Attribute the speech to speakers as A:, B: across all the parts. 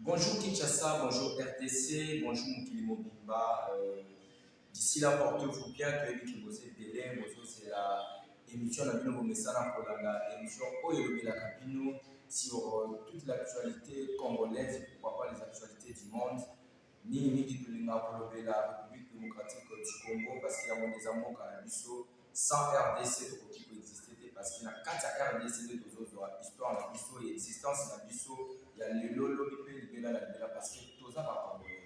A: Bonjour Kinshasa, bonjour RTC, bonjour Mokili Mobimba. Euh, D'ici là, portez-vous bien, que les qui vous délai, bonjour, c'est la émission la bino bomesana kolanda émission oyo elobelaka bino sur euh, toute l'actualité congolaise, pourquoi pas les actualités du monde. Mingi mingi tolingaka kolobela Republique Democratique du Congo parce que yango nde eza mboka na biso. Sans RDC tokoki ko exister te parce que na kati ya RDC nde tozozwa histoire na biso ya existence na biso ya lelo lobi mpe libela na libela parce que toza ba Congolais.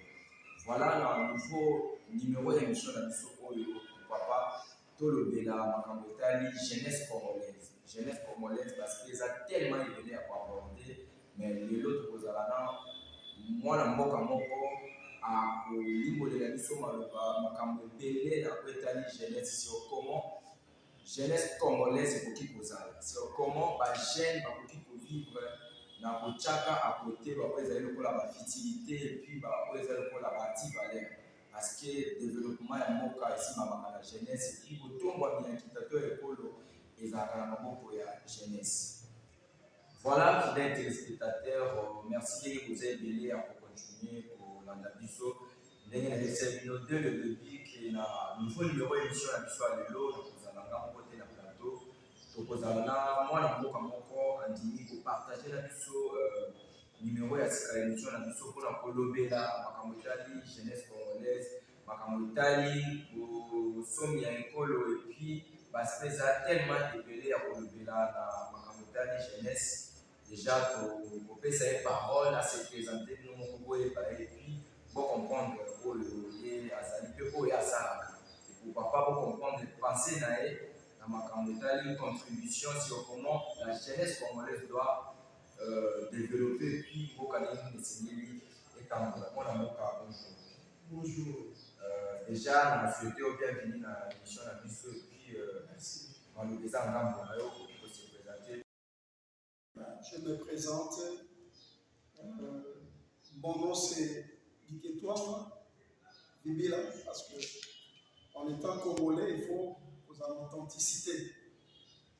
A: Voilà na nouveau numero ya emission na biso oyo pourquoi pas Tolobela makambo etali jeunesse congolaise. Jeunesse congolaise parce que eza tellement ebele ya koaborde mais lelo tokozala na mwana mboka moko akolimbolela biso maloba makambo ebele na oyo etali jeunesse sur comment jeunesse congolaise ekoki kozala sur comment bajeune bakoki kovivre na kotyaka akote baoyo ezali lokola bafutilité epuis baoyo ezali lokola baantivaleur parce que developpement ya mboka esimbamaka na jeunesse epuis botombwami ya nkita to ya ekolo ezalaka na maboko ya jeunesse voilà fidèle téléspectateur merci ndenge boza ebele ya kocontinue kolanda biso ndenge nayebisa bino de le debut ke na nouveau numero émission na biso ya lelo nakozala nga moko te na plateau tokozala na mwana mboka moko andimi kopartage na biso euh, Numero ya sika ya emission na biso mpona kolobela makambo etali jeunesse congolaise, makambo etali bosomi ya ekolo epuis baspect eza tellement ebele ya kolobela na makambo etali jeunesse. Deja kopesa ye parole ase presente bino moko boyeba ye epuis bo comprendre oyo ye azali mpe oyo asalaka pourquoi pas bo comprendre pensee na ye na makambo etali contribution sur comment la jeunesse congolaise doit euh, develope epuis mboka nini esengeli etambola mpo na mboka bonjour bonjour euh, déjà na souhaite yo bienvenue na émission na biso epuis euh, maloba eza ngambo na yo okoki kose présente
B: je me présente euh, mon nom c'est Diketouama Bibila parce que en étant congolais il faut aux authenticités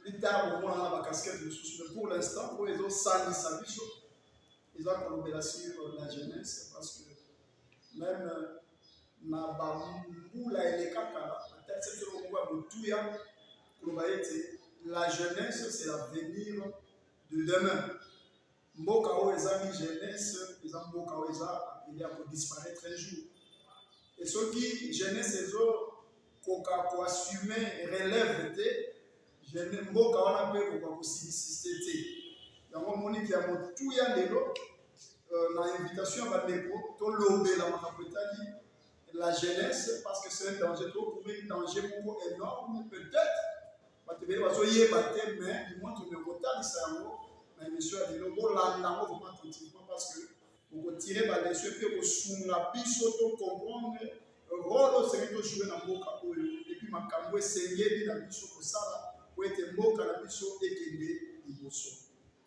B: Plus tard, au moins, la casquette de sous. Mais pour l'instant, pour les autres, ça, ils savent, ils vont tomber là sur la jeunesse parce que même euh, na bambula elekaka atati soki moko ya motuya koloba ete la jeunesse c'est l'avenir de demain mboka oyo eza ni jeunesse eza mboka oyo eza apele ya kodisparaître un jour e soki jeunesse ezokoka koassume relève te mboka wana mpe ekoka kosilisiste te yango moniki ya motuya lelo euh, na invitation ya bandeko tolobela makambo etali la jeunesse parce que c'est un danger tokubi danger moko énorme peut-être bato ebele bazoyeba te mais limontre me kotalisa yango na émission ya lelo bolanda yango vraiment attentivement parce que okotire baleso mpe kosunga biso to comprendre role osenge tojoue na mboka oyo epuis makambo esengeli na biso kosala po ete mboka na biso ekende liboso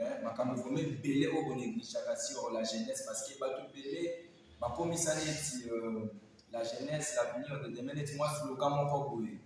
A: eh, makambo vrema ebele oyo bonegligeaka sur la jeunesse parce que bato ebele bakomisa neti euh, la jeunesse l'avenir de demain neti mwa sloga moko boye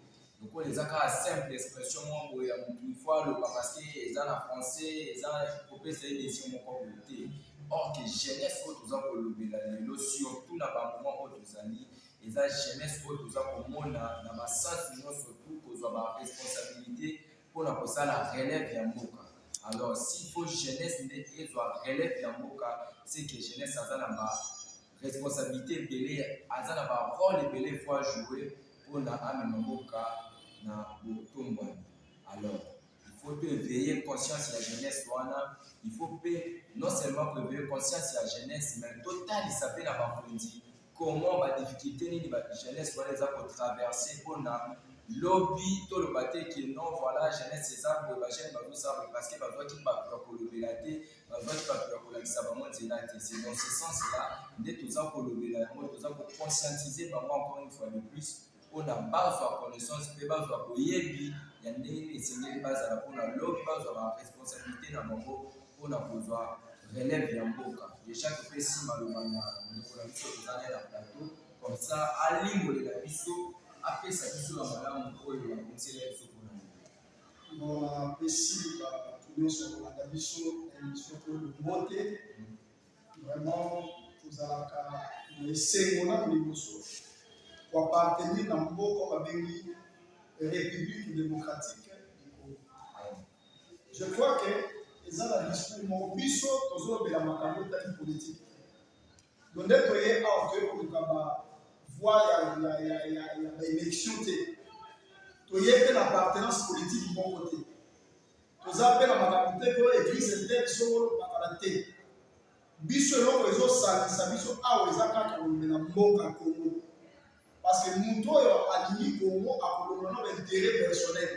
A: lokola eza kaka simple expression mwa boye ya motu ifo aloba parce que eza na français eza kopesa ye desio moko boye te or que jeunesse oyo toza kolobela lelo surtout na bamoment oyo tozali eza jeunesse oyo toza komona na basansi nyonso tu kozwa baresponsabilité pona kosala relève ya mboka alors s'il faut jeunesse nde ezwa relève ya mboka c'est que jeunesse aza na ba responsabilité ebele aza na ba role ebele faut ajouer pona amema mboka na botombwani alors il faut to éveiller conscience ya jeunesse wana il faut pe non seulement ko éveiller conscience ya jeunesse mais totalisa pe na bakonzi comment ba difficultes nini ba jeunesse wana eza ko traverser pona lobi toloba te que non voilà jeunesse eza boye ba jeunes bazosala boye parce que bazwaki bato ya kolobela te bazwaki bato ya kolakisa bango nzela te c'est dans ce sens là nde toza kolobela yango toza ko conscientiser bango encore une fois de plus mpo na bazwa connaissance mpe bazwa boyebi ya ndenge nini esengeli bazala mpo na lobi bazwa ba responsabilité na bango mpo na kozwa relève ya mboka deja topesi maloba na ndeko na biso tozali na plateau comme ça alimbolela biso apesa biso na malamu oyo bakomisela biso mpona napesi
B: bato nyonso kolanda biso na emission oyo mbote Vraiment, tozalaka na esengo na liboso koapartenir na mboka babengi République démocratique du Congo. Je crois que eza na discours moko biso tozolobela makambo etali politike do nde toye awa toye koluka ba voie ya baélection te toye mpe na partenance politike moko te toza mpe na makambo te to eglise etete songolo bakala te biso eloko ezosangisa biso awa eza kaka kolobela mboka kongo parce que moto oyo alingi kongo akolongola na baintere personnel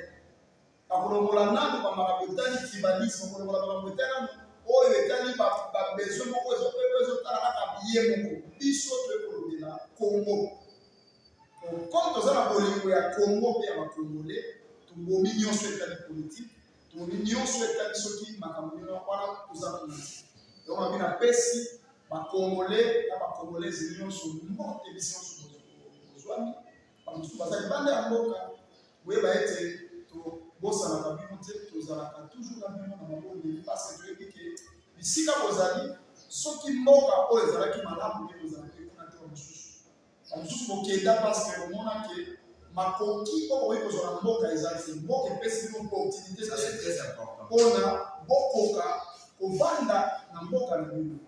B: akolongola nano bamakambo etali tribalisme akolongola makambo etali nano oyo etali babesoin moko ezopeko ezotala kaka biye moko biso toye kolobela kongo Comme toza na bolingo ya Congo mpe ya bakongole, tobomi nyonso etali politiki, tobomi nyonso etali soki makambo nini wana toza kuna. Yango mabe napesi bakongole na bakongolezi nyonso mbote bisi nyonso bozwami, bamosusu baza libanda ya mboka, boyeba ete tobosanaka bino te, tozalaka toujours na bino na mabondeli, parce que toyebi ke bisika bozali soki mboka oyo ezalaki malamu nde bozalaki kuna te mosusu bamosusu bokenda paske komona ke makoki oyo bokoki kozwa na mboka ezali se mboka epesi bino opportunité mpona bokoka kovanda na mboka na bino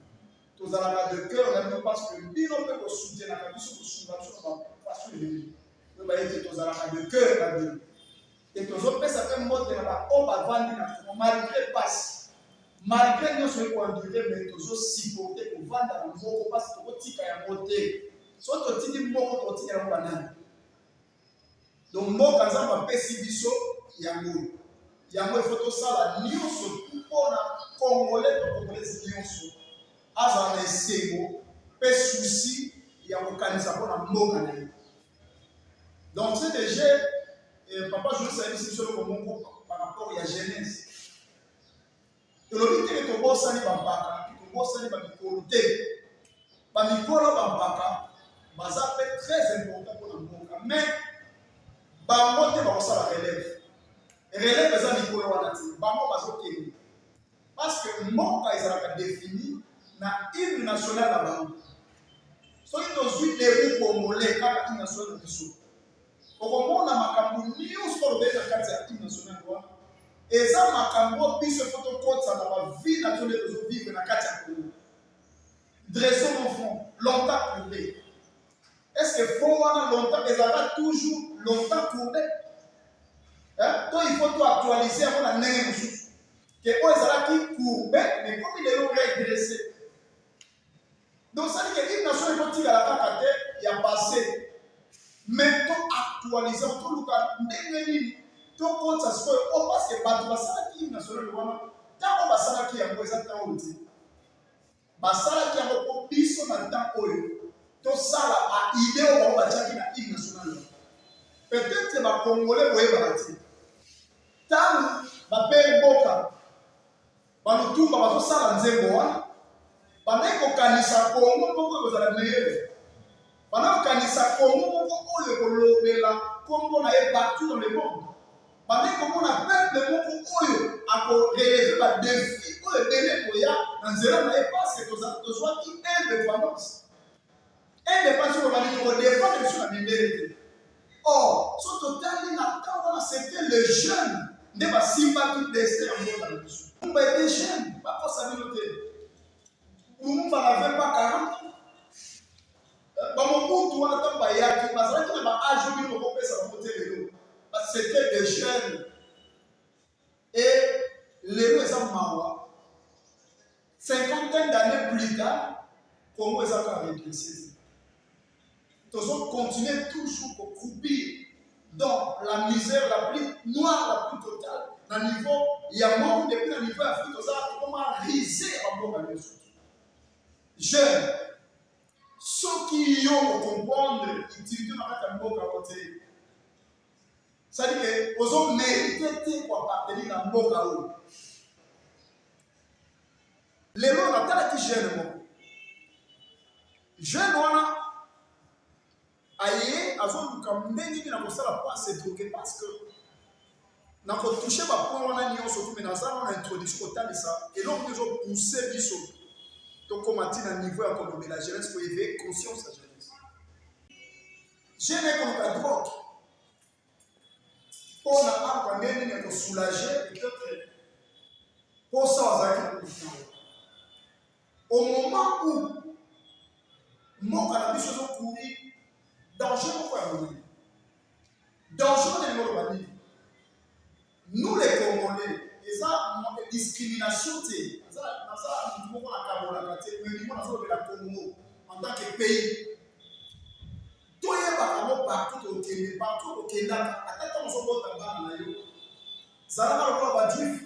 B: tozalaka de cœur na bino paske bino mpe kosutenaka biso kosunga biso na bafaso ebele oyo bayete tozalaka de cœur na bino Et tozo pesa pe mbote na ba oyo bavandi na Congo malgré pasi. Malgré nionso oyebi ko endure mais tozo supporter kovanda na moko pasi tokotika yango te. Soki totiki moko tokotika yango ba nani? Donc mboka Nzambe apesi biso yango. Yango ifo tosala nionso mpona Congolais to Congolaise nionso azala na esengo pe souci ya kokanisa mpona mboka na ye. Donc c'est déjà eh, papa Jonas ayebisi biso eloko moko par rapport ya Genèse. Tolobi te tobosani bampaka, tobosani bamikolo te. Bamikolo bampaka baza mpe très important mpona mboka mais bango te bakosala relève relève eza mikolo wana te bango bazokende Parce que mboka ezalaka defini na hymne national na bango. Soki tozwi debout congolais kaka hymne national na biso, okomona makambo nyonso oyo lobeli na kati ya hymne national wana eza makambo oyo biso efo tokotisa na bavie na biso nde tozovivre na kati ya Congo. Dressons mon front, longtemps courbé. Est-ce que fond wana longtemps ezalaka toujours longtemps courbe hein? to il faut toactualise yango na ndenge mosusu ke oyo ezalaki courbe ekomi lelo redresse donc sali ke une nation ekotikala kaka te ya passé mais to actualise toluka ndenge nini tokotisa sikoyo o oh, parce que bato basalaki nationale wana ntango basalaki yango eza ntango te Basalaki yango mpo biso na ntango oyo tosala a idee oyo bango batiaki na hymne national yango. Peut-être ba Congolais boyebaka te ntango bapeye mboka balutumba bazosala nzembo wana bandaki kokanisa Congo moko ekozala meilleure Bana kokanisa Congo moko oyo kolobela kombo na ye partout dans le monde. Bana komona peuple moko oyo ako relever ba défis oyo ebele koya na nzela na ye parce que tozali tozwaki indépendance. Indépendance oyo bani toko dépendre biso na mindele te. Or, so totali na temps wana c'était les jeunes nde basimbaki destin ya mboka na biso. Kumba était jeune, bakosa bino te. Lumumba n'avait pas 40 ans. bamobutu wana ntango bayaki bazalaki na baage oyo bino bokopesa bango te lelo basete de jeune e lelo eza mawa cinquantaine d'année plus tard congo eza kaka redresse te tozocontinue toujours kokroupir dans la misère la plus noire la plus totale na niveau ya monde epuis na niveau ya afrique toza tokoma rise ya bambonga nyonso jeune soki yo ocomprendre utilité na kati ya mboka yango te sadike ozo merite te koapartenir na mboka oyo lelo natalaki jeune moko jeune wana aye azoluka ndenge nini nakosala mpo asetroke parce que nakotouche bapoint wana nyonso tume naza na introduction kotalisa eloko nde ezopousse biso tokóma ti na niveau ya kolobela jeunesse koyeveye conscience ya jeunesse jeune ekoluka drogue mpo na akwa nde nini ekosoulage peut-être mposa azalaki na kokutana Au moment où mboka na biso ezo courir danger moko ya monene, danger wana yango oloba nini? Nous les Congolais, eza discrimination te, naza naza motu moko nakabolaka te, mais limo nazolobela Congo en tant que pays toyebaka ngo partout tokende, partout tokendaka, ata ntango ozobota bana na yo zalaka lokola bajuife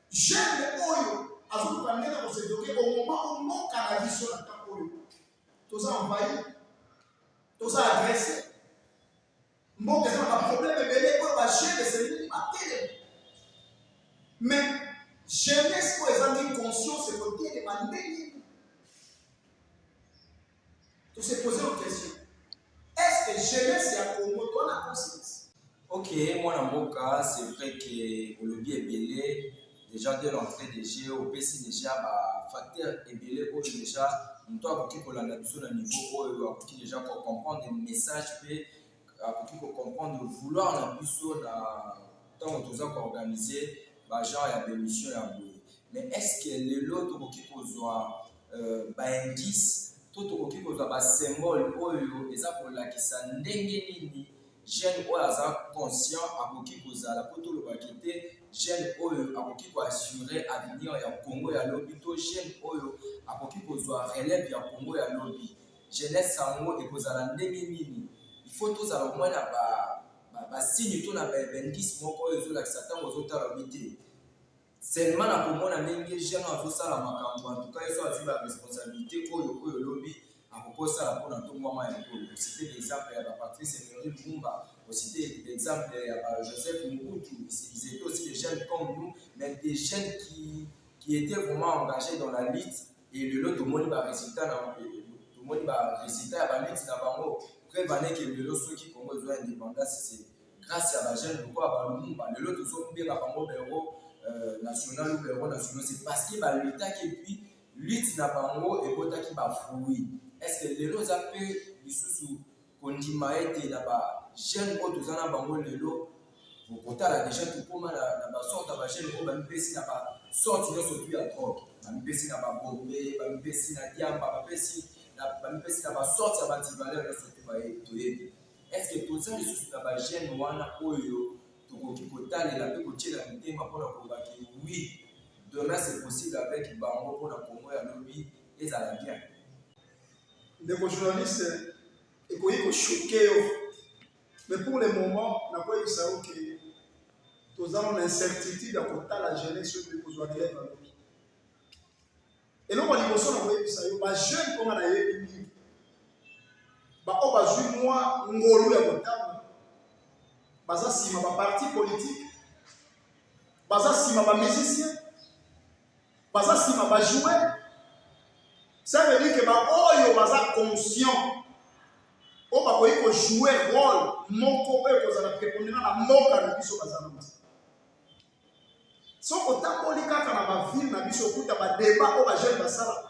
B: Jeune oyo azoluka ndenge ya kosedoke omoma omoka na biso na ntango oyo toza envahi toza agrese mboka eza na baproblème ebele oyo bajeune esengi batelema mais jeunesse oyo ezangi conscience ekotelema ndenge To se poser une question. Est-ce que jeunesse ya Congo to na conscience? Ok, mwana
A: mboka, c'est vrai que olobi ebele déjà de l'entrée de jeu opesi déjà ba facteur ebele oyo déjà moto akoki kolanda biso na niveau oyo akoki déjà kocomprendre message mpe akoki ko comprendre vouloir na biso na ntango toza ko organiser ba genre ya bemission ya boye mais est ce que lelo tokoki kozwa euh, ba indice to tokoki kozwa ba symbole oyo eza kolakisa ndenge nini jeune oyo aza conscient akoki kozala mpo tolobaki te jeune oyo akoki koassure avenir ya congo ya lobi to jeune oyo akoki kozwa relève ya congo ya lobi Jeunesse yango ekozala ndenge nini? Il faut tozala au moins na ba ba signe to na ba indice moko oyo ezolakisa tango ozotala oyebi te. Seulement na komona ndenge jeune oyo azosala makambo en tout cas ye soki azwi ba responsabilite oyo oyo lobi akoki osala mpo na ntombwama ya ekolo. Osite l'exemple ya ba Patrice Emery Lumumba, osite l'exemple ya ba Joseph Mobutu, ils étaient aussi des jeunes comme nous, mais des jeunes qui qui étaient vraiment engagés dans la lutte Et lelo tomoni ba resultats na tomoni ba resultats ya ba luttes na bango. Preuve en est que lelo soki Congo ezwa indépendance c'est grâce ya ba jeunes lokola ba Lumumba. Lelo tozo benga bango ba héros euh, national ou ba héros nationaux c'est parce que ba luttaki et puis lutte na bango ebotaki ba fruits. Est-ce que lelo oza pe lisusu kondima ete na ba jeune oyo toza na bango lelo okotala deja tokoma na, na basorte ya bajeune oyo bamipesi na basorte nyonso tu ya drogue bamipesi na babombe bamipesi na diamba bapesi bamipesi na basorte ya bantivaleur nyonso tu baye toyebi estce toza lisusu na bajeune wana oyo tokoki kotalela mpe kotyela mitema mpona kolobaki oui demain c'est possible avec bango mpona kongo ya lobi ezala bien
B: Ndeko journaliste, ekoki koshoke yo mais pour le moment nakoyebisa yo ke toza na incertitude ya kotala jeunesse oyo ekozwa relève ya loki. Eloko liboso na koyebisa yo bajeune oyo nga nayebi mingi baoyo bazwi mwa ngolu ya kotanga baza nsima baparti politike baza nsima bamusicien baza nsima bajoue ça veut dire ke baoyo baza conscient oyo bakoki kojoue role moko oyo ekozala prepondena na mboka na biso baza na bango soki otamboli kaka na bavile na biso okuta badeba oyo bajeune basalaka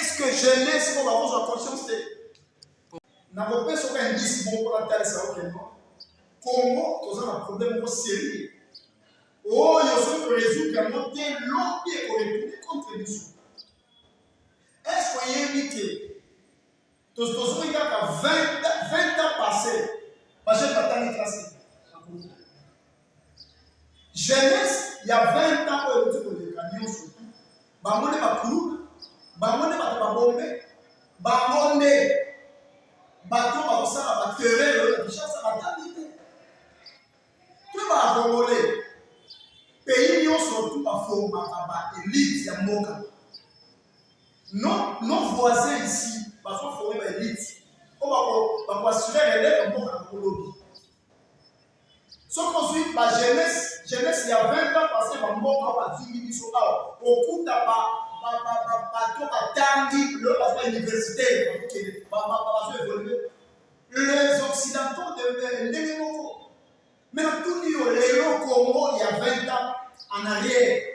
B: Est-ce que jeunesse oyo bakozwa conscience te? Nakopesa oka indice moko mpo natalisa yo keno Congo toza na problème moko sérieux oyo soki toresoudre yango te lobi ekoretourne contre biso. Est-ce que oyebi te Tozongi kaka 20 ans passé, bajeune batangi classe jeunesse ya 20 ans oyo euti koleka nyonso bango nde bakuluna bango nde bato babombe bango nde bato bakosala baterreur oyo na kinshasa batangi te to bakongole pays nyonso tu baformaka ba elite ya mboka nos, nos voisins ici bazo forme ba elite oyo bako bako assurer relève mboka na kolobi soki ozwi ba jeunesse jeunesse ya 20 ans parce que bamboka bazwingi biso awa okuta ba bato batangi lelo baza ba université bakokende bazo évolue les occidentaux de ndenge moko mais natuni yo lelo congo ya 20 ans en arrière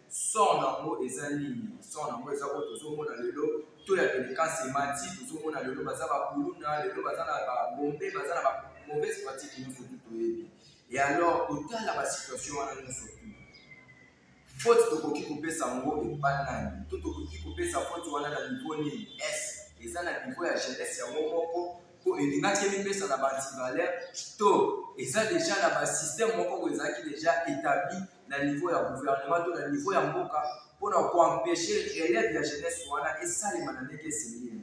A: son nango eza nini son nango eza oyo tozomona lelo to ya delikasi emati tozomona lelo baza bakuluna lelo baza na babombe baza na ba mauvaise pratique nyonso tu toyebi e alors kotala basituation wana nyonso tu faute tokoki kopesa yango epai nani to tokoki kopesa faute wana na niveau nini es eza na niveau ya jeunesse yango moko mpo elingaki emipesa na baantivaleur to eza deja na basystème moko oyo ezalaki deja établi na niveau ya gouvernement to na niveau ya mboka mpo na koempeshe relève ya jeunesse wana esalema na ndenge esengeli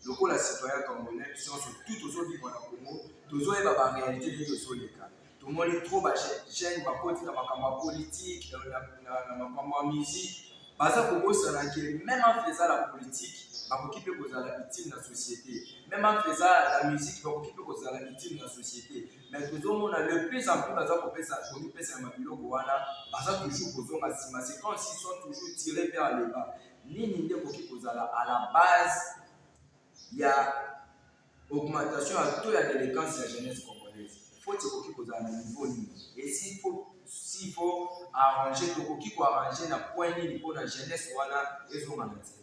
A: lokola citoyen congolais biso nyonso tu tozovivre na congo tozoyeba baréalité nini tozoleka tomoni trop bajeune bakoti na makambo ya politike na makambo ya musike baza kobosana ke meme entre eza la politike bakoki mpe kozala utile na société meme entre eza la musike bakoki mpe kozala utile na société mais tozomona le plus en plus baza kopesa komipesa na mabiloko wana baza toujours kozonga nsima c'est comme s'ils sont toujours tiré vers le bas nini nde ekoki kozala à la base ya augmentation ya taux ya déléquence ya jeunesse congolaise faute ekoki kozala na niveau nini esi faut s'il faut arranger tokoki koarranger na point nini mpo na jeunesse wana ezonga na nzela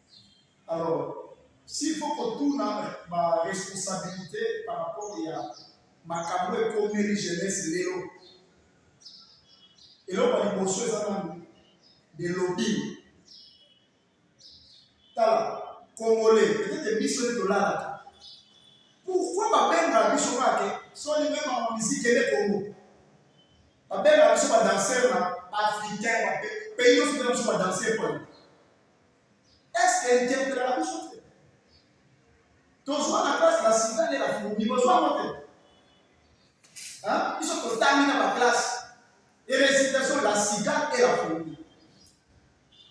B: Alors, s'il faut kotuna baresponsabilité par rapport ya makambo ekomeli jeunesse lelo eloko ya liboso eza nani de lobbying tala congolais peut-être biso nde tolalaka pourquoi babengaka biso kake soni mema ma miziki ede congo babengaka biso badanser na africain pays nyonso bengaka biso badanser pone Est-ce que tempera la biso te? Tozwa na classe la sida nde na fumi bozwa yango te? Biso totangi na baklasse et récitation la sida et la fourmi.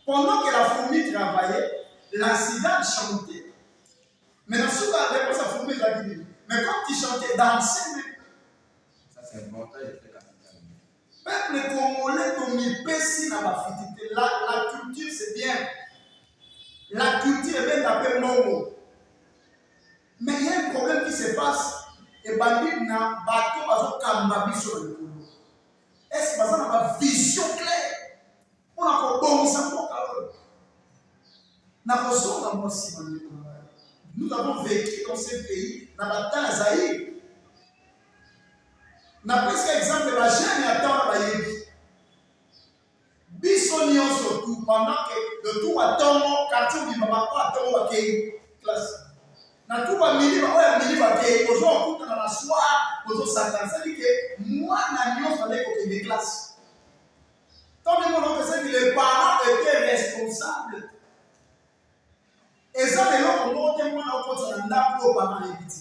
B: Pendant que la fourmi travaillait, la sida chantait. Mais la soupe a réponse à fourmi la vie. Mais quand il chantait, dansait même. Ça c'est
A: important, il était capital. Peuple
B: congolais tomipesi na bafiti te. La, la culture c'est bien. La culture ebenda mpe mbongo. Mais il y a un problème qui se passe ebandi na bato bazokamba biso na likolo. Est-ce baza na ba vision claire mpo na kobongisa mboka oyo? Na kozonga mwa nsima ndeko na ngai. Nous avons vécu dans ce pays na batemps ya Zaïre. napesi exemple ba jeune ya ntango bayebi biso nyonso tu pendant que le tour ya ntongo quartier obima bango ya ntongo bakei classe na tu bamini bango ya mini bakei ozo okutana na soir ozosakana sadi ke mwana nyonso andeki kokende classe ntango ndenge olokesaki les parents étaient responsables eza na eloko moko te mwana okotisa na ndako oyo bana yebi te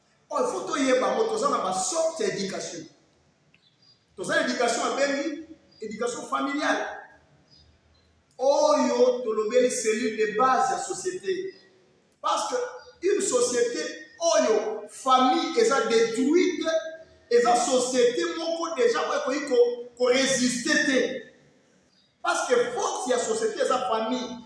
B: oyo fo toyeba yango toza na basorte ya éducation toza na éducation abengi éducation familiale oyo tolobeli cellule de base ya société parce que une société oyo famille eza détruite eza société moko déjà oyo ekoki koresiste te parce que force ya société eza famille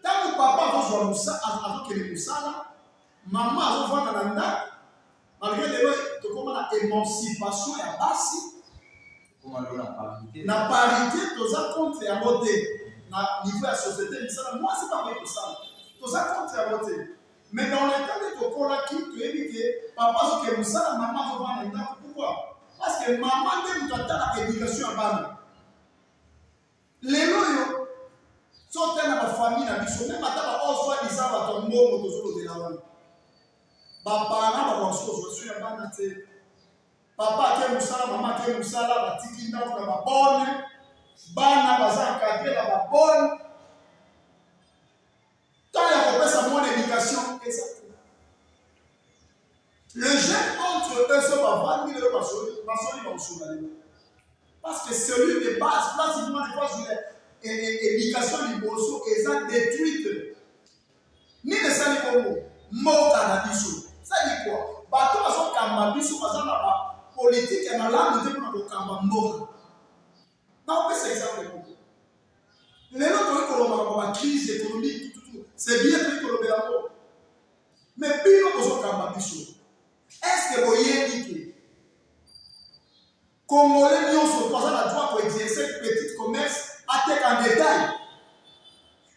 B: ntango papa azozwa mosala azokende mosala mama azofanda na ndako malgre lelo tokoma na émancipation ya basi na parité toza contre yango te na niveau ya société misala mwasi bakoki kosala toza contre yango te mais dans le temps nde tokolaki toyebi ke papa azoke mosala mama azofanda na ndako pourquoi parce que mama nde moto atalaka éducation ya bana lelo oyo soki na bafamille na biso meme ata baoyo soi disant bato ya mbongo tozolobela wana bapana bakosusu ozwa soki ya bana te papa ake mosala mama ake mosala batiki ndako na babone bana baza encadre na babone Temps ya kopesa mon education eza te. Le jeune entre eux so bavandi lelo basoli basoli bakosola lelo. Parce que celui de base place il mwana kwa zula education liboso eza détruite. Nini esali bongo? Mboka na biso. Sali kwa bato bazokamba biso baza na ba politike ya malamu te mpona kokamba mboka. Nakopesa exemple moko. Lelo tokoki koloba makambo ma crise économique tututu, c'est bien tokoki kolobela yango. Mais bino bozokamba biso. Est-ce que boyebi ke Congolais nyonso mpo aza na droit koexerce petit commerce ateka en détail?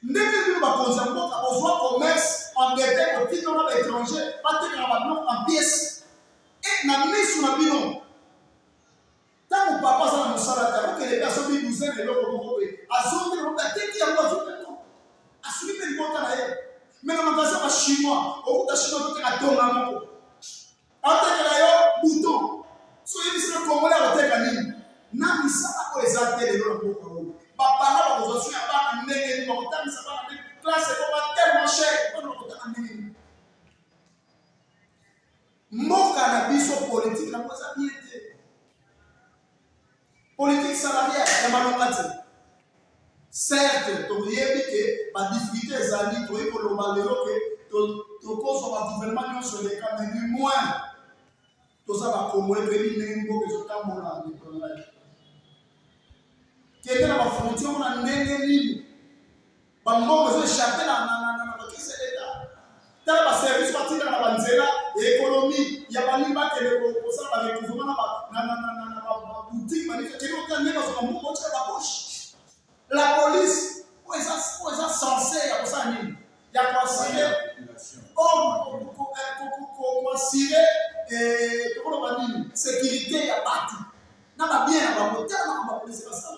B: Ndenge bino bakonzi ya mboka bozwa commerce en détail kotika na baétranger batekaka babiloko en pièce e na miso na bino Tango papa aza na mosala te, akokende pe asombi bouze na eloko moko boye, azongi na ateki yango azwi pe mbongo. Aswi pe libota na ye. Me na magasin ba chinois, okuta chinois akoteka tonga moko. Atekela yo bouton. So oyebisi na congolais akoteka nini? Na misala oyo eza te lelo na mboka oyo. Ba parents bakozwa soin ya bana ndenge nini? Bakotangisa bana ndenge classe ekoma tellement cher, bana bakotanga ndenge nini? Mboka na biso politique na kosa bien te. Politique salariale ya malonga te. Certes, toyebi ke ba difficultés ezali, toyebi koloba lelo ke tokozwa ba gouvernement nyonso eleka, mais du moins toza ba Congolais toyebi ndenge mboka ezotambola na mikolo na kende na ba frontières na ndenge nini Ba mbongo ezo échapper na na na na bakisi ya leta. Tala ba service batika na ba nzela ya économie ya balingi bakende ko- kosala ba recouvrement na ba na na na na na ba ba boutique balingi bakende kotala ndenge bazwa ba mbongo otika ba poche. La police oyo eza oyo eza censé ya kosala nini? Ya koasire koasire tokoloba nini? Sécurité ya bato na ba bien ya bango tala makambo ya police basala.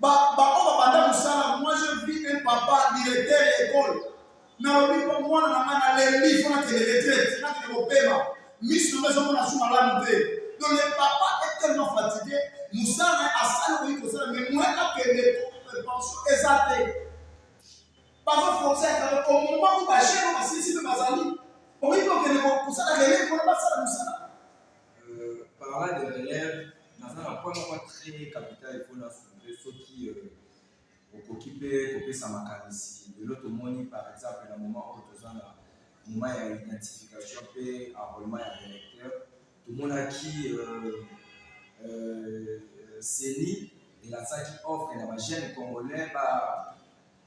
B: baoyo babanda mosala moi je vis un papa directeur ya ekole nalobi mpo mwana na ngai nalembi mpo nakende retraite nakende kopema miso nanga ezomona su malamu te donc le papa est tellement fatigué mosala na ye asali okoki kosala mais moi akende pension eza te bazoforce yaka okomoma ko bashero basilisi mpe bazali okoki kokende kosala lele mpona basala mosala Euh,
A: parlant de relève, naza na point moko très capital il faut na soulever soki euh, okoki mpe kopesa makanisi lelo tomoni par exemple na moment oyo toza na moment ya identification mpe enrôlement ya électeur tomonaki euh, euh, ceni elasaki offre na bajeune congolais ba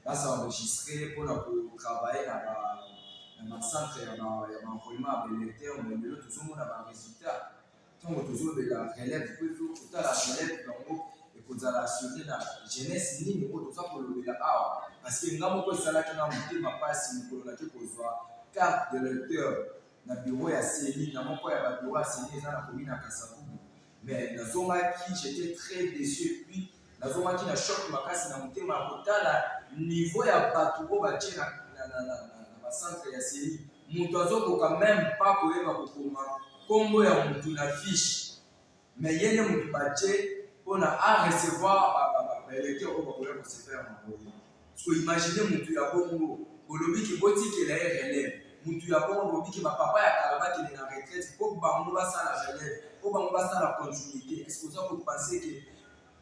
A: ba s'enregistrer mpo na ko travailler na ba na ba centre ya ba ya ba enrôlement ya ba électeurs mais lelo tozomona ba résultats ntango tozolobela relève mpo ifo kotala relève yango ekozala assuré na jeunesse nini oyo toza kolobela awa parce que nga moko esalaki na motema mpasi mokolo nake kozwa carte de lecteur na bureau ya ceni na moko ya ba bureau ya ceni eza na komi na kasavubu mais nazongaki j'étais très déçu et puis nazongaki na choc makasi na motema ya kotala niveau ya bato oyo batye na, na, na, na, na, na bacentre ya seni moto azokoka meme pa koyeba kokoma nkombo ya motu na fiche mais ye nde motu batye mpo na a recevoir baelecteur oyo bakoya kosepela na boye Ko imaginer mutu ya bongo bolobi ke botikela ye relève mutu ya bongo bolobi ke ba papa ya kala bakende na retraite po bango basala relève po bango basala continuite est ce que oza ko pense ke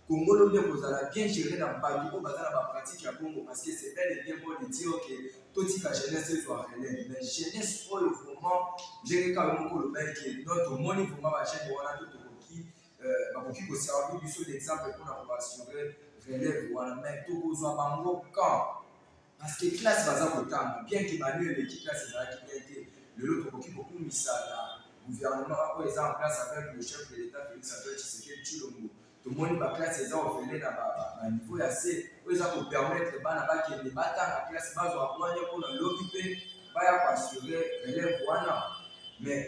A: Congo lobi ekozala bien gere na batu oyo baza na ba pratique ya bongo parce que c'est bel et bien beau de dire ke totika jeunesse ezwa relève mais jeunesse oyo vraiment ndenge kaka yo moko olobaki ke non tomoni vraiment ba jeunes wana to euh, bakoki koservi biso d'exemple mpona koasure relève wana mai tokozwa bango quand parce que classe baza kotanga bien ke bani eleki classe ezalaki bien te lelo tokoki kokumisa na gouvernement oyo eza en place avec le chef de l'état félix antoine tshisekedi tshilombo tomoni baklasse eza ofele na baniveau ya se oyo eza kopermettre bana bakende batanga classe bazwa mwanya mpona lobi mpe baya koassure relève wana mais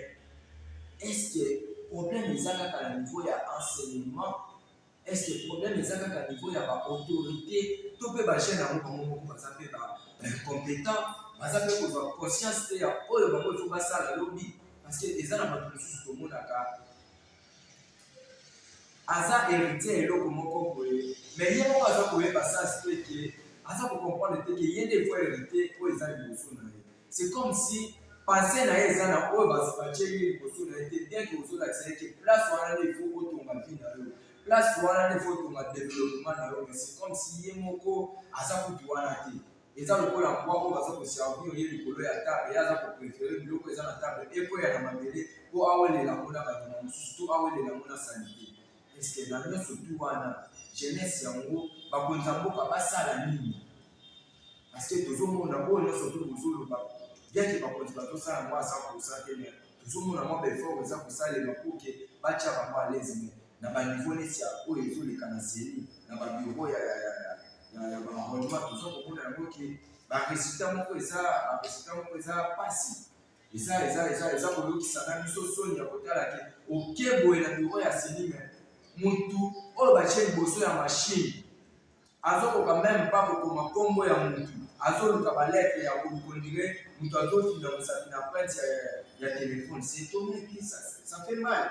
A: Est-ce que problème eza kaka na niveau ya enseignement? Est-ce que problème eza kaka na niveau ya ba autorité to pe ba jeunes yango bango moko baza pe ba incompétent, baza pe kozwa conscience te ya oyo bango il faut basala lobi parce que eza na bato mosusu tomonaka aza héritier eloko moko boye mais ye moko aza koyeba sens te ke aza kocomprendre te ke ye nde efo héritier oyo eza liboso na ye c'est comme si pensée na ye eza na oyo batie ye liboso na ye te bien ke ozolakisa ye ke place wana nde efo otonga vie na yo place wana nde efo otonga développement na yo mais c'est comme si ye moko aza kutu wana te eza lokola mbwa oyo baza koservir ye likolo ya table ye aza koprefere biloko eza na table ekwea na mabele mpo awelela yango na banyama mosusu to awelela yango na salite eske na nyonso tu wana jeunesse yango bakonzi ya mboka basala nini parceke tozomona oyo nyonso to bozoloba biake bakonzi bazosala yango aza kosa te me tozomona mwa baeffort eza kosalema mpo ke batya bango alezime na ba niveau neti ya oyo ezoleka na CENI na ba bureau ya ya ya ya ya ba enrôlement toza komona yango ke ba résultats moko eza ba résultats moko eza pasi eza eza eza eza koyokisa na biso soni ya kotala ke oke boye na bureau ya CENI me mutu oyo batye liboso ya machine azokoka meme pa kokoma nkombo ya mutu azoluka ba lettre ya kolukondire mutu azofina mosapi na printe ya, ya, ya telefone c'est étonné que ça, ça fait mal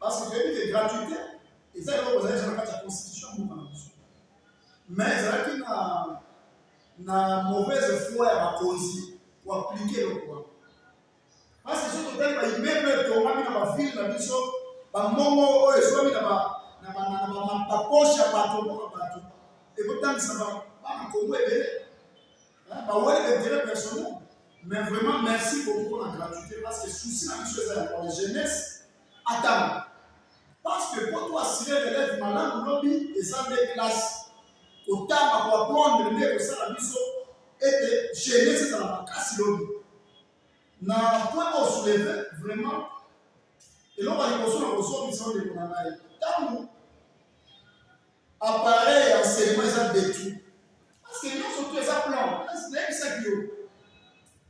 B: Parce que toyebi ke gratuité eza eloko ezalaki na kati ya constitution ya mboka na biso mais ezalaki na na mauvaise foi ya bakonzi koaplike eloko wana parce que soki totali baimmeuble etongami na bavile na biso bambongo oyo ezwami na baposhe ya bato mboka bato ekotangisa bana kongo ebele bawele intérêt personnel mais vraiment merci beaucoup mpona gratuité parce que souci na biso eza ya pona jeunesse atanga parce que mpo to asire relève malamu lobi eza nde classe kotanga koaprendre nde ekosala biso ete jeunesse ezala makasi lobi na point oyo souleve vraiment eloko ya liboso na kozongisa ndeko na ngai ntango Appareil ya enseignement eza detu. Parce que nionso tout eza plan. Nayebisaki yo.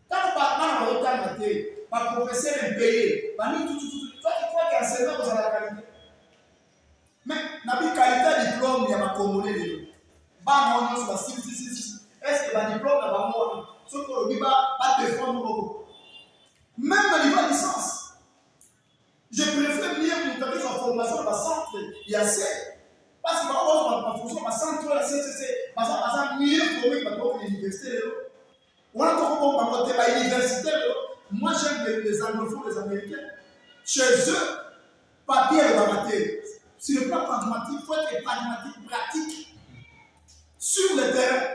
B: Tango ba bana bazotanga te, ba professeur impayé, ba nini tout tout tout. Toi tu crois que enseignement kozala na qualité? Mais na bi qualité ya diplôme ya ba congolais lelo. Bana wana nionso basili sisi sisi. Est-ce que ba diplôme na bango wana soki olobi ba ba defendre moko? Même na niveau ya licence Je préfère mieux moto akozwa formation na bacentre ya se parce que bango bazwa baformation na bacentre oyo ya ccc baza baza mieux forme bato boko na université lelo wana tokobomba bango te bauniversité lelo moi j'aime les anglophones les américains chez eux papier elobaka te sur le plan pragmatique faut être pragmatique pratique sur le terrain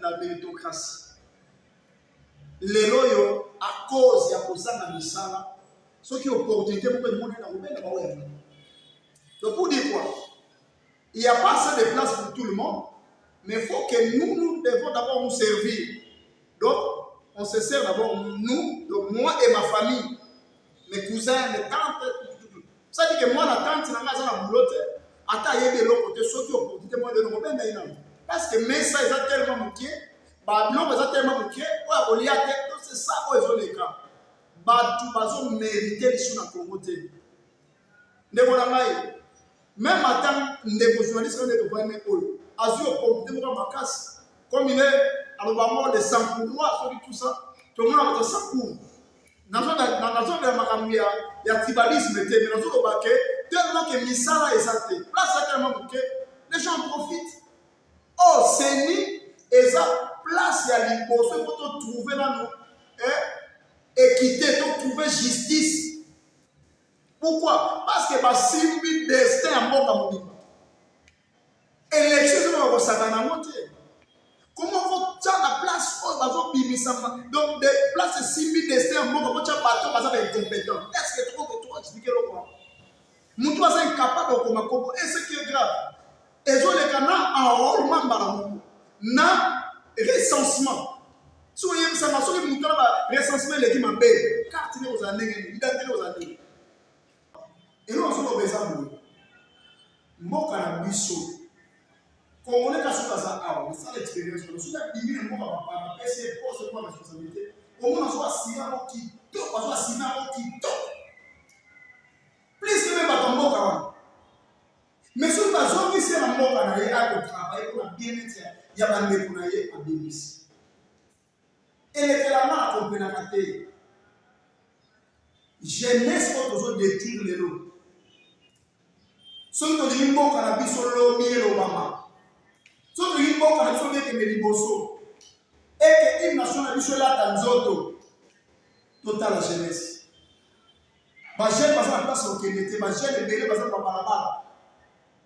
B: na meritocratie lelo oyo a cause ya kozanga misala soki opportunité moko emonani na kobenda bango yango donc pour dire quoi il y a pas assez de place pour tout le monde mais faut que nous nous devons d'abord nous servir donc on se sert d'abord nous donc moi et ma famille mes cousins mes tantes sadi ke mwana tante na ngai aza na boulot te ata ayebi eloko te soki opportunité moko eloko benda ye nango parce que mesa eza tellement moke babiloko eza tellement moke oyo akolia te to c'est ça oyo ezoleka bato bazomerite lisu na kongo te ndeko na ngai meme ata ndeko journaliste oyo nde tokoyame oyo azwi opportunité moko ya makasi comme il est aloba moko de sankouroi soki tout ça tomona moto sankour nazolobela makambo ya ya tribalisme te mais nazoloba ke tellement ke misala eza te place ya tellement moke les gens profitent o oh, seni eza place ya liboso efo totrouve nano eh, équité totrouve justice pourquoi parce que basimbi destin ya mboka mobimba Election ezo ba kosaka na mote. Comment ko tsa na place oyo ba ko bimisa donc de place simbi destin ya mboka ko tsa bato baza ba incompétent. Est-ce que tu peux tu expliquer le quoi? Mutu aza incapable de koma koko et ce qui est grave. Ezo leka na enrôlement mbala moko. Na recensement. soki oyebisaka soki moto na ba recensement eleki mabe carte nde kozala ndenge nini identite nde kozala ndenge Eloko nazoloba eza boye, mboka na biso kongole kasi oyo aza awa nasala experience wana soki abimi na mboka bapana apesi ye poste mpo na responsabilité omona azwa asina yango kitoko azwa asina yango kitoko plus meme bato mboka wana mais soki bazongisi ye na mboka na ye akotravaille mpo na bien-être ya bandeko na ye abimisi elekelanga na komprenaka te jeunesse oyo tozo detruire lelo soki tolingi mboka na biso lobi elobama soki tolingi mboka na biso bekende liboso ete hymne national na biso elata nzoto totala jeunesse bajeune baza na place kokende te bajeune ebele baza na babalabala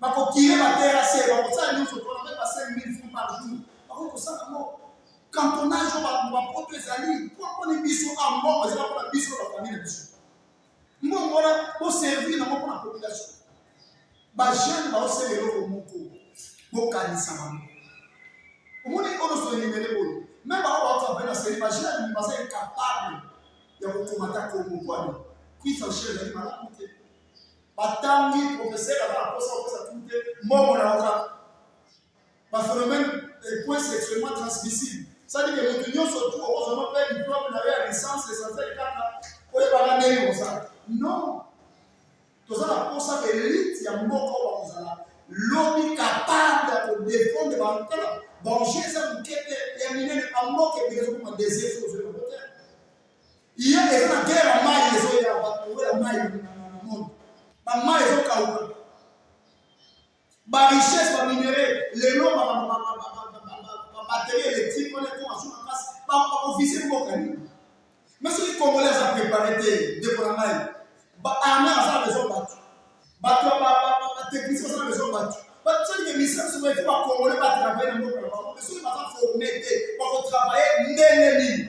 B: bakokire baterase bakosala nyonso mpona mpe ba 5000 francs par jour bakoki kosala yango cantonage oyo bapoto ezali mpo mponi biso a mbongo ezala mpona biso bafamile na biso mbongo wana boservir nango mpona population bajeune baosala eloko moko bokanisa bango omoni onosoelimele boye me bango baokaa mpe na seli bajeune baza incapable ya kokomata kongo mpwani kwisa shele ezali malamu te batangi profesere aza na mposa kopesa tulu te mbongo na yo kaka baphénomène epoint sexuellement transmissible sadi ke moto nyonso tu okozwama mpe diplome na yo ya licence essentiel kaka oyebaka ndenge kosala non toza na mposa elite ya mboka oyo bakozala lobi kapable ya kodefendre bantala banger eza moke te ya minene bamboka ebele ezokoma désir ozoyeba kote Iye eza na guerre ya mayi ezo ya bato ya mayi na monde. Ba mayi ezo kauka. Ba richesse ba minerais lelo ba ba ba ba ba batterie électrique wana ekoma so makasi bakofise mboka nini me soki congolais aza prépare te ndeko na ngai baarme aza na besoin bato bato batechnicien aza na besoin bato basalike misala soki baifo bacongolais batravaille na mboka na bango me soki baza forme te bakotravaille ndenge nini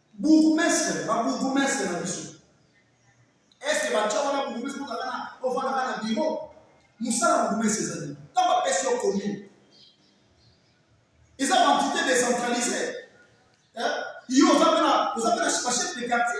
B: Bourgmestre, ba bourgmestre na biso. Est-ce que ba tchao na bourgmestre pour kana au fana kana bureau? Musala bourgmestre ezali. Tant ba pesi au commune. Ils ont entité décentralisée. Hein? Ils ont appelé, ils ont appelé chef de quartier.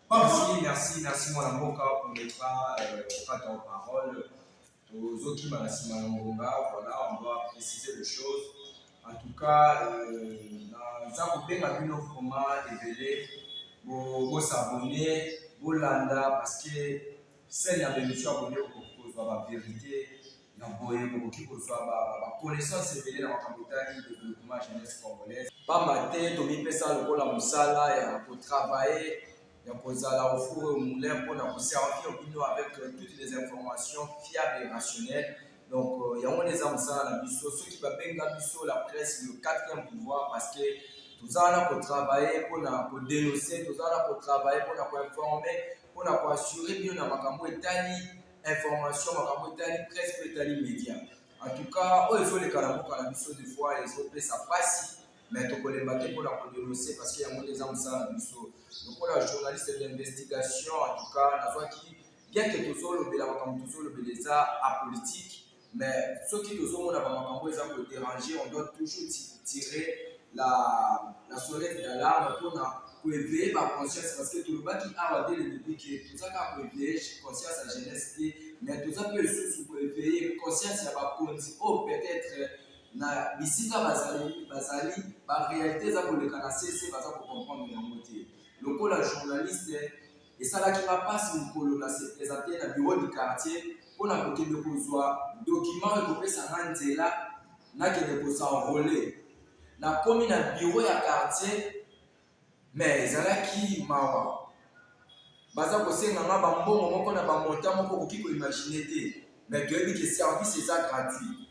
B: Merci, merci, merci
A: mwana mboka pour ne pas euh, pas ton parole. Tozokima na nsima ya ngonga, voilà, on doit préciser les choses. En tout cas, euh, naza kobenga bino vraiment ebele bosabone bolanda parce que sene ya bemission abone okozwa bavérité Na boye bokoki kozwa ba ba connaissance ebele na makambo etali developpement jeunesse congolaise. Pamba te tomipesa lokola mosala ya kotravaye ya kozala au four et au moulin mpo na koservir bino avec euh, toutes les informations fiables et rationnelles donc euh, yango nde eza mosala na biso soki babenga biso la presse le quatrième pouvoir parce que toza wana kotravaye mpo na kodenonce toza wana kotravaye mpo na koinforme mpo na koassure bino na makambo etali information makambo etali presse mpe etali media en tout cas oyo ezoleka na mboka na biso de fois ezopesa mpasi mais tokolemba te mpona kodenonse parce que yango nde eza mosala na biso lokola journaliste d'investigation en tout cas nazwaki bien ke tozolobela makambo tozolobela eza apolitique Mais soki tozomona ba makambo eza ko deranger, on doit toujours tirer la, la sonnette d'alarme mpo na ko eveiller ba conscience parce que tolobaki awa dès le début que toza kaka ko eveiller conscience ya jeunesse te, mais toza mpe lisusu ko eveiller conscience ya bakonzi oyo oh, peut-être na bisika bazali bazali ba réalité eza koleka na sese baza ko comprendre yango te lokola journaliste Esalaki nga pasi mokolo na se presenter na bureau du quartier mpo na kokende kozwa document oyo ekopesa nga nzela nakende ko s'enroler. Nakomi na bureau ya quartier mais ezalaki mawa, baza kosenga nga ba mbongo moko na ba montant moko okoki ko imaginer te mais toyebi que service eza gratuit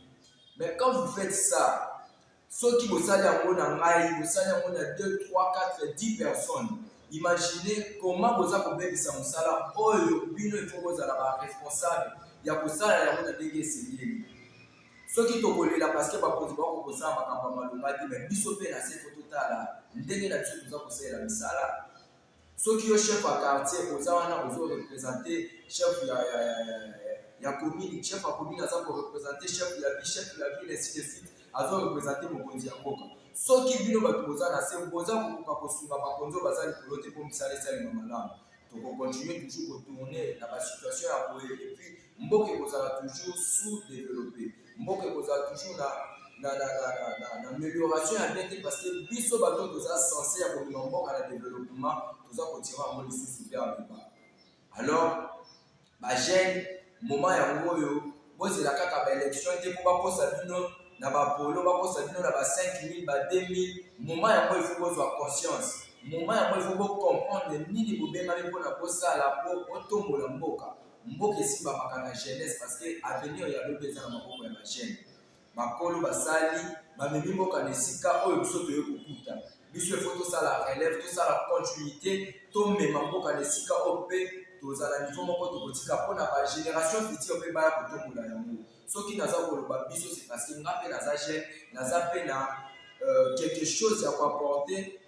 A: mais quand vous faites ça Soki bosali yango na ngai, bosali yango na 2, 3, 4, 10 personnes, imaginez comment boza kobebisa mosala oyo bino il faut bozala ba responsable ya kosala yango na ndenge esengeli. Soki tokolela parce que bakonzi bako kosala makambo ya malonga te, mais biso mpe na se faut totala ndenge na biso toza kosalela misala. soki yo chef ya quartier oza wana ozo represente chef ya, ya, ya, ya, ya commune chef ya commune aza korepresente chef ya ville chef ya ville ainsi de suite azo represente mokonzi ya mboka soki bino bato boza na se boza kokoka kosunga bakonzi oyo baza likolo te mpo misala esalema malamu tokokontinue toujours kotourne na basituation ya boye epuis mboka ekozala toujours sous developpe mboka ekozala toujours na na na na na na na amélioration ya bien te parce que biso bato toza sense ya kobima mboka na développement toza kotira yango lisusu vers le bas alors bagene moment yango oyo bozela kaka baélection te mpo bakosa bino na bapolo bakosa bino na ba 5000 ba 2000 moment yango ifo bozwa conscience moment yango ifo bocomprendre nini bobengami mpo na kosala mpo otombola mboka mboka esimbamaka na jeunesse parce que avenir ya lobi eza na maboko ya bajeune bakolo basali bamemi mboka na esika oyo biso toye kokuta biso efo tosala relève tosala continuité tomema mboka na esika oyo mpe tozala nivo moko tokotika mpo na bagénération future mpe baya kotombola yango soki naza koloba biso se parce que nga mpe naza jeune naza mpe na euh, quelque chose ya koapporte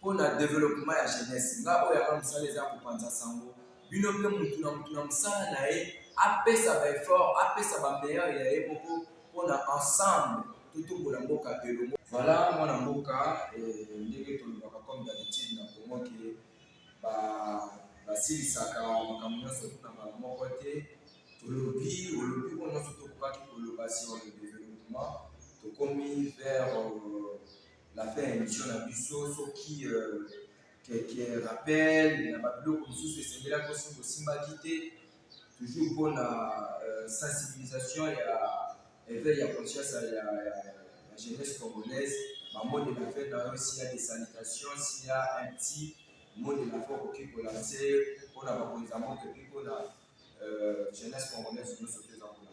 A: mpo na developpement ya jeunesse. Nga oyo yanga mosala eza kopanza sango, bino mpe mutu na mutu na mosala na ye apesa ba effort, apesa ba meilleur ya ye moko mpo na ensemble totombola mboka elongo. Voilà mwana mboka eh, ndenge tolobaka comme d'habitude na Congo ke ba basilisaka makambo nyonso na mbala moko te. Tolobi olobi oyo nyonso tokokaki koloba sur le developpement, tokomi vers euh, la fin ya emission na biso soki euh, keke rappel na babiloko mosusu esengelaki osi bosimbaki te toujours mpo na euh, sensibilisation ya éveil ya conscience ya, ya, ya, ya jeunesse congolaise bamode na fin na yo sia de sanitation sia un petit mode na fin okoki kolanse mpo na bakonzi ya mboka epi mpo na euh, jeunesse congolaise nyonso te eza kolanda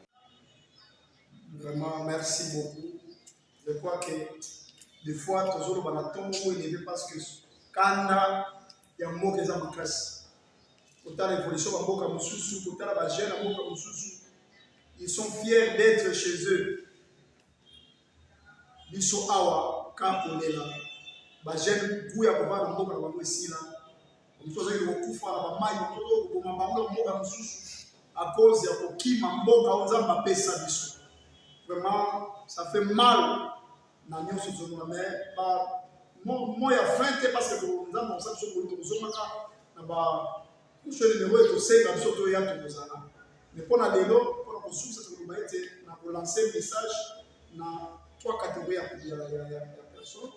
A: Vraiment,
B: merci beaucoup. Je crois que des fois tozoloba na ntongo moko eleve parce que kanda ya mboka eza makasi kotala évolution ba mboka mosusu kotala ba jeune ya mboka mosusu ils sont fiers d'être chez eux biso awa ka kolela ba jeune gout ya kovanda mboka na bango esila moto azali kokufa na bamai moto oyo koboma bango na mboka mosusu à cause ya kokima mboka oyo nzambe apesa biso vraiment ça fait mal na nyonso ezomona mais ba moi ya fin te parce que nzambe akosa biso koli tokozongaka na ba kuso nimero ekosenga biso toya tokozala mais mpo na lelo mpo na kosusa tokoloba ete na kolanse message na trois catégorie ya personne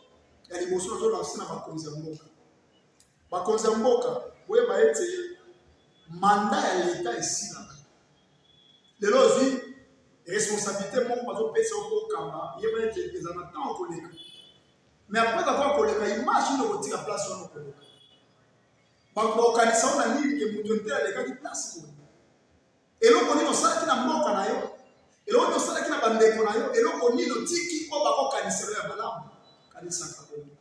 B: ya liboso nazolanse na bakonzi ya mboka Bakonzi ya mboka, boyeba ete manda ya leta esilaka. Lelo ozwi responsabilite moko bazopesa yo mpo okamba, yeba ete eza na ntango koleka. Me apres avoir koleka image nde okotika place wana okoleka. Bakokanisa yo na nini ke moto nte alekaki place boye. Eloko nini osalaki na mboka na yo? Eloko nini osalaki na bandeko na yo? Eloko nini otiki mpo bakokanisa yo ya malamu? Kanisaka bongo.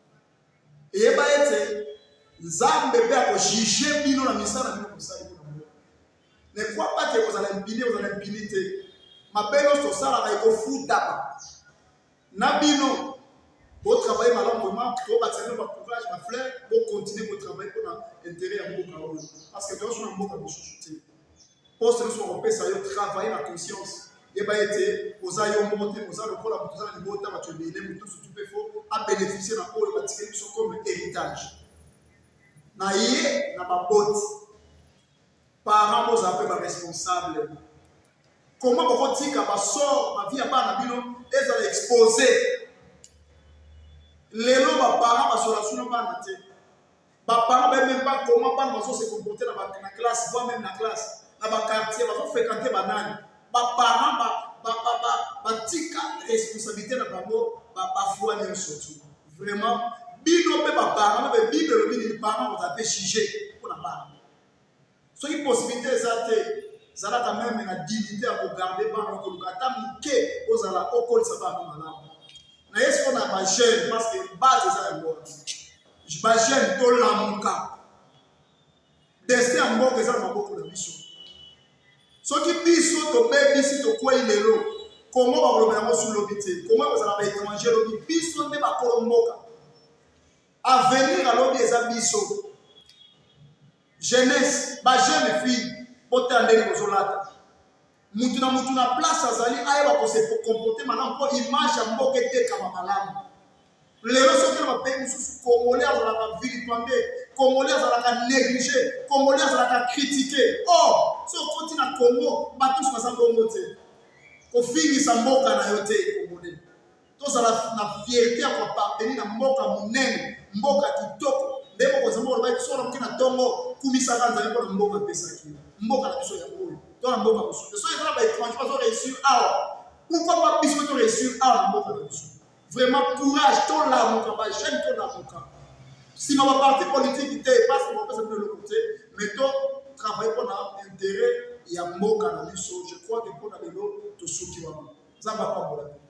B: Eyeba ete Nzambe mpe akojuge bino na misala bino kosali kuna mboka. Ne crois pas que kozala impuni, kozala impuni te. Mabe nyonso osalaka ekofutama. na bino bo travailler malamu vraiment to ba tsana ba courage ba fleur bo continuer ko travailler pour na intérêt ya mboka oyo parce que dans une mboka mosusu te poste na soko pesa yo travailler na conscience yeba ete oza yo moko te oza lokola moto oza na libota bato ebele moto sutu mpe fo abénéficie na oyo batikeli biso comme héritage na ye na baboti Parents bozala mpe ba responsable. Comment bokotika ba sort ba vie ya bana bino ezala expose lelo ba parents basola sino bana te ba parents bayebi meme pas comment bana bazo se comporter na ba na classe voire même na classe na ba quartier bazo fréquenter banani ba parents ba ba ba ba batika responsabilité na bango ba ba foi nyonso tu vraiment bino mpe ba parents na ba bible elobi nini parents baza mpe sujet mpo na bana soki possibilité eza te zala quand même na dignité ya kogarde bana okoluka ata moke ozala okolisa bana malamu na ye siko na bajeune parce que base eza yango wana bajeune tolamuka destin ya mboka eza na maboko na biso soki biso tobebisi tokwei lelo kongo bakoloba yango su lobi te kongo ekozala baétranger lobi biso nde bakolo mboka Avenir ya lobi eza biso. Jeunesse, ba jeunes filles, botala ndenge bozolata. Mutu na mutu na place azali ayeba ko se comporter malamu mpo image ya mboka etekama malamu. Lelo soki na bapays mosusu Congolais azalaka vilipande, Congolais azalaka neglige, Congolais azalaka kritike. Or, so okoti na Congo, bato nyonso baza bongo te. Kofingisa mboka na yo te Congolais. tozala na fierte ya koaparteni na mboka monene mboka kitoko nde mokonzi moko olobaki solo moke na ntongo kumisaka nzambe mpo na mboka apesaki mboka na biso ya oyo to na mboka mosusu te soki eza na baétranger bazo réussir awa pourquoi pas biso mpe to réussir awa na mboka na biso vraiment courage tolamuka bajeune tolamuka nsima baparti politiki te epasi bapesa bino eloko te mais to travaille mpo na intérêt ya mboka na biso je crois que mpo na lelo tosuki wana nzambe apambola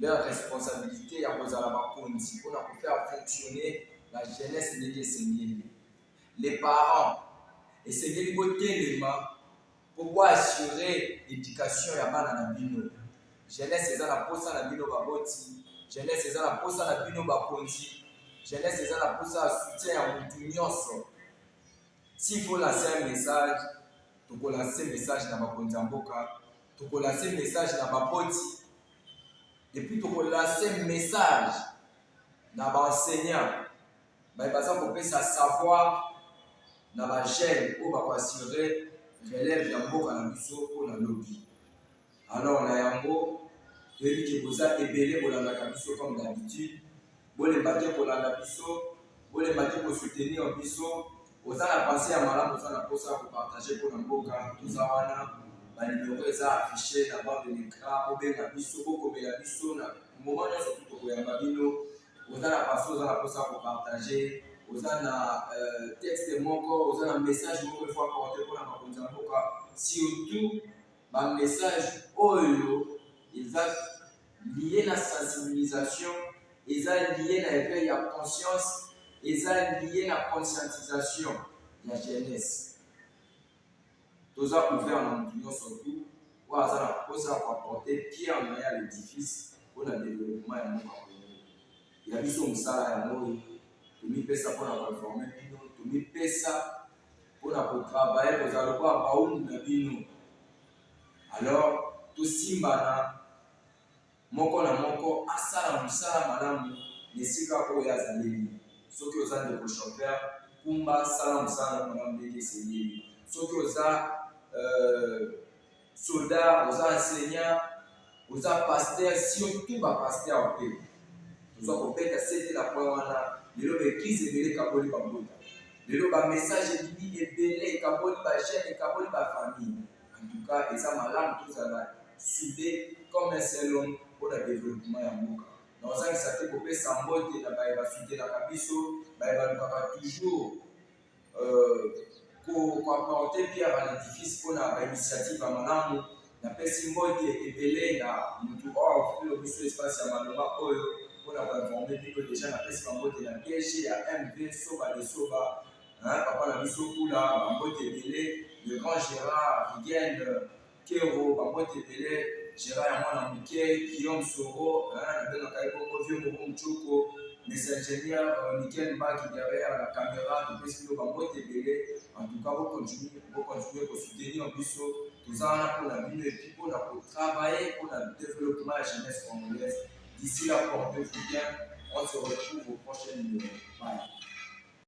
A: leur responsabilite ya kozala bakonzi pona ko faire fonctionner la jeunesse ndenge esengeli. Les parents esengeli botelema po bo assurer education ya bana na bino. Jeunesse eza na posa na bino baboti, jeunesse eza na posa na bino bakonzi, jeunesse eza na posa ya soutien ya mutu nionso. S'il faut lancer un message, toko lancer message na bakonzi ya mboka. toko lancer message na ba poti et puis toko lancer message na ba enseignants baye baza kopesa savoir na ba jeunes oyo bako assurer relève ya mboka na biso mpo na lobi alors na yango toyebi ke boza ebele bolandaka biso comme d'habitude bolemba te kolanda biso, bolemba te kosoutenir biso. Oza na pensee ya malamu, oza na mposa ya kopartage mpo na mboka, toza wana banimero eza affiche na bord de lecran, bobenga biso, bokomela biso na moma nyonso, tokoyamba bino. Oza na paso, oza na mposa ya kopartage, oza na euh, texte moko, oza na message moko efo aporte mpo na makonzi ya mboka, surtout bamessage oyo eza liye na sensibilisation, eza liye na eveil ya conscience, eza liye na conscientisation ya jeunesse. Toza ouvert na mutu nyonso tu oyo aza na mposa ya ko apporter pierre na ye à l'edifice mpo na developpement ya mboka Congo. Ya biso mosala yango oyo, tomipesa mpo na ko informer bino, tomipesa mpo na ko travailler, kozala lokola bawumbu na bino. Alors tosimbana moko na moko asala mosala malamu na esika oyo azaleli. Soki oza ndeko chauffeur, kumba sala mosala na malamu ndenge esengeli. Soki oza euh, soda, oza enseignant oza pasteur surtout ba pasteur mpe toza kobeta sete na point wana lelo ba eglise ebele ekaboli bambuta lelo ba message ebimi ebele ekaboli ba jeune ekaboli ba famille en tout cas eza malamu tozala soude comme un seul homme mpo na développement ya mboka na ozangisa te kopesa mbote na baye basutenaka biso baye balukaka toujours koapporte pierre à l'édifice mpo na bainitiative ya malamu napesi mbote ebele na motu oyo afutelo biso espace ya malonga oyo mpo na koinforme bino deja napesi bambote na dg ya mv soba de soba papa na biso kula bambote ebele le grand gérard rigene Pierrot, bambote ebele, Gerard ya mwana moke, Guillaume Soro, nabengaka ye bongo vieux Moro Mchoko, mes ingénieurs, euh, Nickel Mbaki derrière la caméra, topesi bino bambote ebele, en tout cas, bokontinue, bokontinue kosoutenir biso, toza wana mpo na bino, epuis mpo na kotravailler mpo na développement ya jeunesse congolaise, d'ici là, portez-vous bien, on se retrouve au prochain numéro, bye.